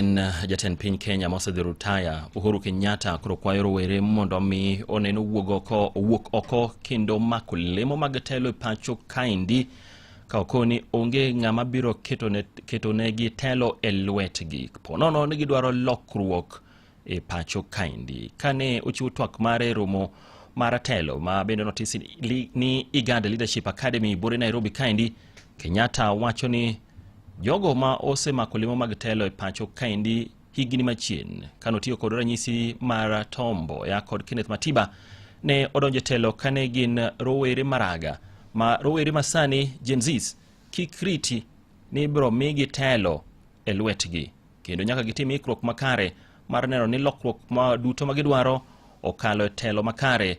En uh, jatend piny Kenya mosedhi rutaya Uhuru Kenyatta koro kwayo rowere mondo omi oneno wuog oko owuok oko kendo mako lemo mag telo e pacho kaendi ka okoni onge ng'ama biro ketonegi telo e lwetgi ponono ni gidwaro lokruok e pacho kaendi kane ochiwo twak mare romo mar telo ma bende notisi ni Iganda Leadership Academy bore Nairobi kaendi Kenyatta wacho ni jogo ma osemako lemo mag telo e pacho kaendi higni machien kanotiyo kod ranyisi mar Tom Mboya kod Kenneth Matiba ne odonjo e telo kane gin rowere maraga ma rowere masani Gen Zs kik riti ni ibiro migi telo e lwetgi kendo nyaka gitim ikruok makare mar neno ni lokruok ma duto ma gidwaro okalo e telo makare